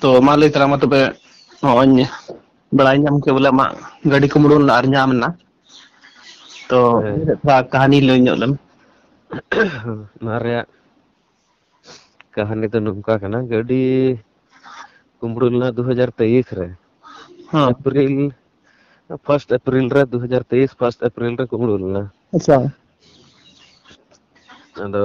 ᱛᱚ ᱢᱟ ᱞᱟᱹᱭ ᱛᱟᱞᱟᱝ ᱢᱮ ᱛᱚᱵᱮ ᱱᱚᱜᱼᱚᱭ ᱵᱟᱲᱟᱭ ᱧᱟᱢ ᱠᱮᱫ ᱵᱚᱞᱮ ᱟᱢᱟᱜ ᱜᱟᱹᱰᱤ ᱠᱚᱢ ᱩᱰᱩᱠ ᱞᱮᱱᱟ ᱟᱨ ᱧᱟᱢ ᱮᱱᱟ ᱛᱚ ᱦᱮᱸ ᱛᱷᱚᱲᱟ ᱠᱟᱹᱦᱱᱤ ᱞᱟᱹᱭ ᱧᱚᱜ ᱞᱮᱢ ᱱᱚᱣᱟ ᱨᱮᱭᱟᱜ ᱠᱟᱹᱦᱱᱤ ᱫᱚ ᱱᱚᱝᱠᱟ ᱠᱟᱱᱟ ᱜᱟᱹᱰᱤ ᱠᱩᱢᱵᱽᱲᱩ ᱞᱮᱱᱟ ᱫᱩ ᱦᱟᱡᱟᱨ ᱛᱮᱭᱤᱥ ᱨᱮ ᱦᱮᱸ ᱮᱯᱨᱤᱞ ᱯᱷᱟᱥᱴ ᱮᱯᱨᱤᱞ ᱨᱮ ᱫᱩ ᱦᱟᱡᱟᱨ ᱛᱮᱭᱤᱥ ᱯᱷᱟᱥᱴ ᱮᱯᱨᱤᱞ ᱨᱮ ᱠᱩᱢᱲᱩ ᱞᱮᱱᱟ ᱟᱪᱪᱷᱟ ᱟᱫᱚ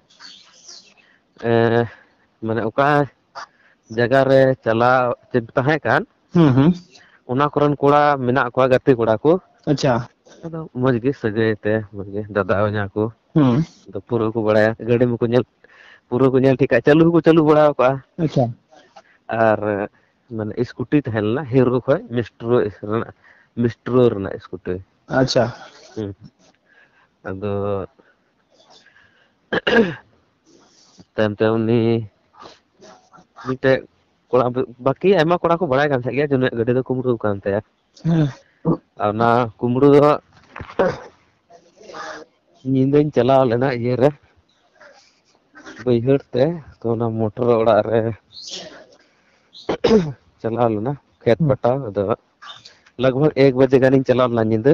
ᱮᱸ ᱢᱟᱱᱮ ᱚᱠᱟ ᱡᱟᱭᱜᱟ ᱨᱮ ᱪᱟᱞᱟᱣ ᱪᱮᱫ ᱛᱟᱦᱮᱸ ᱠᱟᱱ ᱦᱩᱸ ᱦᱩᱸ ᱚᱱᱟ ᱠᱚᱨᱮᱱ ᱠᱚᱲᱟ ᱢᱮᱱᱟᱜ ᱠᱚᱣᱟ ᱜᱟᱛᱮ ᱠᱚᱲᱟ ᱠᱚ ᱟᱪᱪᱷᱟ ᱟᱫᱚ ᱢᱚᱸᱡᱽ ᱜᱮ ᱥᱟᱹᱜᱟᱹᱭ ᱛᱮ ᱢᱚᱡᱽ ᱜᱮ ᱫᱟᱫᱟ ᱦᱚᱧᱦᱟᱸ ᱠᱚ ᱦᱩᱸ ᱟᱫᱚ ᱯᱩᱨᱟᱹ ᱠᱚ ᱵᱟᱲᱟᱭᱟ ᱜᱟᱹᱰᱤ ᱢᱟᱠᱚ ᱧᱮᱞ ᱯᱩᱨᱟᱹ ᱠᱚ ᱧᱮᱞ ᱴᱷᱤᱠ ᱠᱟᱜᱼᱟ ᱪᱟᱹᱞᱩ ᱦᱚᱸᱠᱚ ᱪᱟᱹᱞᱩ ᱵᱟᱲᱟ ᱠᱟᱜᱼᱟ ᱟᱪᱪᱷᱟ ᱟᱨ ᱢᱟᱱᱮ ᱤᱥᱠᱩᱴᱤ ᱛᱟᱦᱮᱸ ᱞᱮᱱᱟ ᱦᱤᱨᱳ ᱠᱷᱚᱡ ᱢᱮᱥᱴᱨᱳ ᱨᱮᱱᱟᱜ ᱢᱮᱥᱴᱨᱳ ᱨᱮᱱᱟᱜ ᱤᱥᱠᱩᱴᱤ ᱟᱪᱪᱷᱟ ᱦᱩᱸ ᱟᱫᱚ ᱛᱟᱭᱚᱢ ᱛᱮ ᱩᱱᱤ ᱢᱤᱫᱴᱮᱡ ᱠᱚᱲᱟ ᱵᱟᱹᱠᱤ ᱟᱭᱢᱟ ᱠᱚᱲᱟ ᱠᱚ ᱵᱟᱲᱟᱭ ᱠᱟᱱ ᱛᱟᱦᱮᱸᱫ ᱜᱮᱭᱟ ᱡᱮ ᱩᱱᱤᱭᱟᱜ ᱜᱟᱹᱰᱤ ᱫᱚ ᱠᱩᱢᱵᱽᱲᱩᱣ ᱠᱟᱱ ᱛᱟᱭᱟ᱾ ᱦᱮᱸ᱾ ᱟᱨ ᱚᱱᱟ ᱠᱩᱢᱵᱽᱲᱩ ᱫᱚ ᱦᱟᱸᱜ ᱧᱤᱫᱟᱹᱧ ᱪᱟᱞᱟᱣ ᱞᱮᱱᱟ ᱤᱭᱟᱹ ᱨᱮ ᱵᱟᱹᱭᱦᱟᱹᱲ ᱛᱮ ᱛᱚ ᱚᱱᱟ ᱢᱚᱴᱚᱨ ᱚᱲᱟᱜ ᱨᱮ ᱪᱟᱞᱟᱣ ᱞᱮᱱᱟ ᱠᱷᱮᱛ ᱯᱟᱴᱟᱣ ᱟᱫᱚ ᱞᱟᱜᱽ ᱵᱷᱟᱜᱽ ᱮᱠ ᱵᱟᱡᱮ ᱜᱟᱱᱤᱧ ᱪᱟᱞᱟᱣ ᱞᱮᱱᱟ ᱧᱤᱫᱟᱹ᱾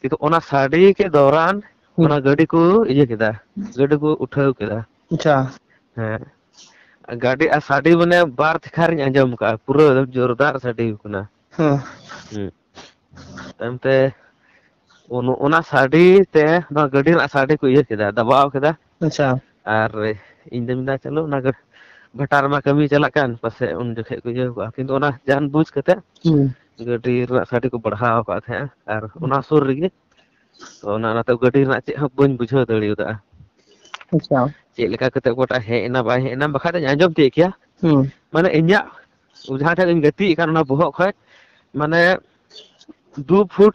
ᱠᱤᱱᱛᱩ ᱚᱱᱟ ᱥᱟᱰᱮ ᱠᱮᱫ ᱫᱚᱨᱟᱱ ᱦᱩᱸ ᱚᱱᱟ ᱜᱟᱹᱰᱤ ᱠᱚ ᱤᱭᱟᱹ ᱠᱮᱫᱟ ᱜᱟᱹᱰᱤ ᱠᱚ ᱩᱴᱷᱟᱹᱣ ᱠᱮᱫᱟ ᱟᱪᱪᱷᱟ ᱦᱮᱸ ᱜᱟᱹᱰᱤ ᱟᱨ ᱥᱟᱰᱮ ᱢᱟᱱᱮ ᱵᱟᱨ ᱛᱷᱮᱠᱟᱨᱤᱧ ᱟᱸᱡᱚᱢ ᱟᱠᱟᱫᱼᱟ ᱯᱩᱨᱟᱹ ᱮᱠᱫᱚᱢ ᱡᱳᱨᱫᱟᱨ ᱥᱟᱰᱮ ᱟᱠᱟᱱᱟ ᱦᱮᱸ ᱦᱮᱸ ᱛᱟᱭᱚᱢ ᱛᱮ ᱚᱱᱟ ᱥᱟᱰᱮ ᱛᱮ ᱱᱚᱣᱟ ᱜᱟᱹᱰᱤ ᱨᱮᱱᱟᱜ ᱥᱟᱰᱮ ᱠᱚ ᱤᱭᱟᱹ ᱠᱮᱫᱟ ᱫᱟᱵᱟᱣ ᱠᱮᱫᱟ ᱟᱪᱪᱷᱟ ᱟᱨ ᱤᱧ ᱫᱩᱧ ᱢᱮᱱᱫᱟ ᱪᱚᱞᱚ ᱚᱱᱟ ᱜᱮ ᱵᱷᱟᱴᱟ ᱨᱮᱢᱟ ᱠᱟᱹᱢᱤ ᱪᱟᱞᱟᱜ ᱠᱟᱱ ᱯᱟᱥᱮᱡ ᱩᱱ ᱡᱚᱠᱷᱮᱡ ᱠᱚ ᱤᱭᱟᱹ ᱠᱚᱜᱼᱟ ᱠᱤᱱᱛᱩ ᱚᱱᱟ ᱡᱟᱦᱟᱱ ᱵᱩᱡᱽ ᱠᱟᱛᱮᱫ ᱦᱩᱸ ᱜᱟᱹᱰᱤ ᱨᱮᱱᱟᱜ ᱥᱟᱰᱮ ᱠᱚ ᱵᱟᱲᱦᱟᱣ ᱟᱠᱟᱫ ᱛᱟᱦᱮᱸᱜᱼᱟ ᱟᱨ ᱚᱱᱟ ᱥᱩᱨ ᱨᱮᱜᱮ ᱛᱚ ᱚᱱᱟ ᱚᱱᱟᱛᱮ ᱜᱟᱹᱰᱤ ᱨᱮᱱᱟᱜ ᱪᱮᱫ ᱦᱚᱸ ᱵᱟᱹᱧ ᱵᱩᱡᱷᱟᱹᱣ ᱫᱟᱲᱮᱭᱟᱫᱼᱟ ᱟᱪᱪᱷᱟ ᱪᱮᱫ ᱞᱮᱠᱟ ᱠᱟᱛᱮᱫ ᱚᱠᱚᱭᱴᱟᱜ ᱦᱮᱡ ᱮᱱᱟ ᱵᱟᱭ ᱦᱮᱡ ᱮᱱᱟ ᱵᱟᱠᱷᱟᱡ ᱫᱚᱧ ᱟᱸᱡᱚᱢ ᱛᱤᱭᱳᱜ ᱠᱮᱭᱟ ᱦᱩᱸ ᱢᱟᱱᱮ ᱤᱧᱟᱹᱜ ᱡᱟᱦᱟᱸ ᱴᱷᱮᱱ ᱤᱧ ᱜᱟᱛᱮᱜ ᱠᱟᱱ ᱚᱱᱟ ᱵᱚᱦᱚᱜ ᱠᱷᱚᱡ ᱢᱟᱱᱮ ᱫᱩ ᱯᱷᱩᱴ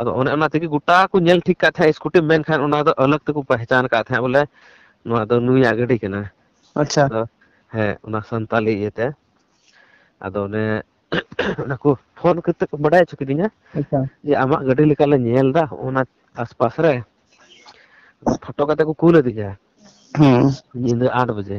ᱟᱫᱚ ᱚᱱᱮ ᱚᱱᱟ ᱛᱮᱜᱮ ᱜᱚᱴᱟ ᱠᱚ ᱧᱮᱞ ᱴᱷᱤᱠ ᱠᱟᱜ ᱛᱟᱦᱮᱸᱜ ᱤᱥᱠᱩᱴᱤᱢ ᱢᱮᱱᱠᱷᱟᱱ ᱚᱱᱟ ᱫᱚ ᱟᱞᱟᱜᱽ ᱛᱮᱠᱚ ᱯᱮᱦᱪᱟᱱ ᱟᱠᱟᱫ ᱛᱟᱦᱮᱸᱜ ᱵᱚᱞᱮ ᱱᱚᱣᱟ ᱫᱚ ᱱᱩᱭᱟᱜ ᱜᱟᱹᱰᱤ ᱠᱟᱱᱟ ᱟᱪᱪᱷᱟ ᱟᱫᱚ ᱦᱮᱸ ᱚᱱᱟ ᱥᱟᱱᱛᱟᱞᱤ ᱤᱭᱟᱹᱛᱮ ᱟᱫᱚ ᱚᱱᱮ ᱚᱱᱟ ᱠᱚ ᱯᱷᱳᱱ ᱠᱟᱛᱮᱫ ᱠᱚ ᱵᱟᱰᱟᱭ ᱦᱚᱪᱚ ᱠᱤᱫᱤᱧᱟ ᱟᱪᱪᱷᱟ ᱡᱮ ᱟᱢᱟᱜ ᱜᱟᱹᱰᱤ ᱞᱮᱠᱟ ᱞᱮ ᱧᱮᱞ ᱮᱫᱟ ᱚᱱᱟ ᱟᱥᱯᱟᱥ ᱨᱮ ᱯᱷᱳᱴᱳ ᱠᱟᱛᱮ ᱠᱚ ᱠᱩᱞ ᱟᱹᱫᱤᱧᱟ ᱦᱮᱸ ᱧᱤᱫᱟᱹ ᱟᱴ ᱵᱟᱡᱮ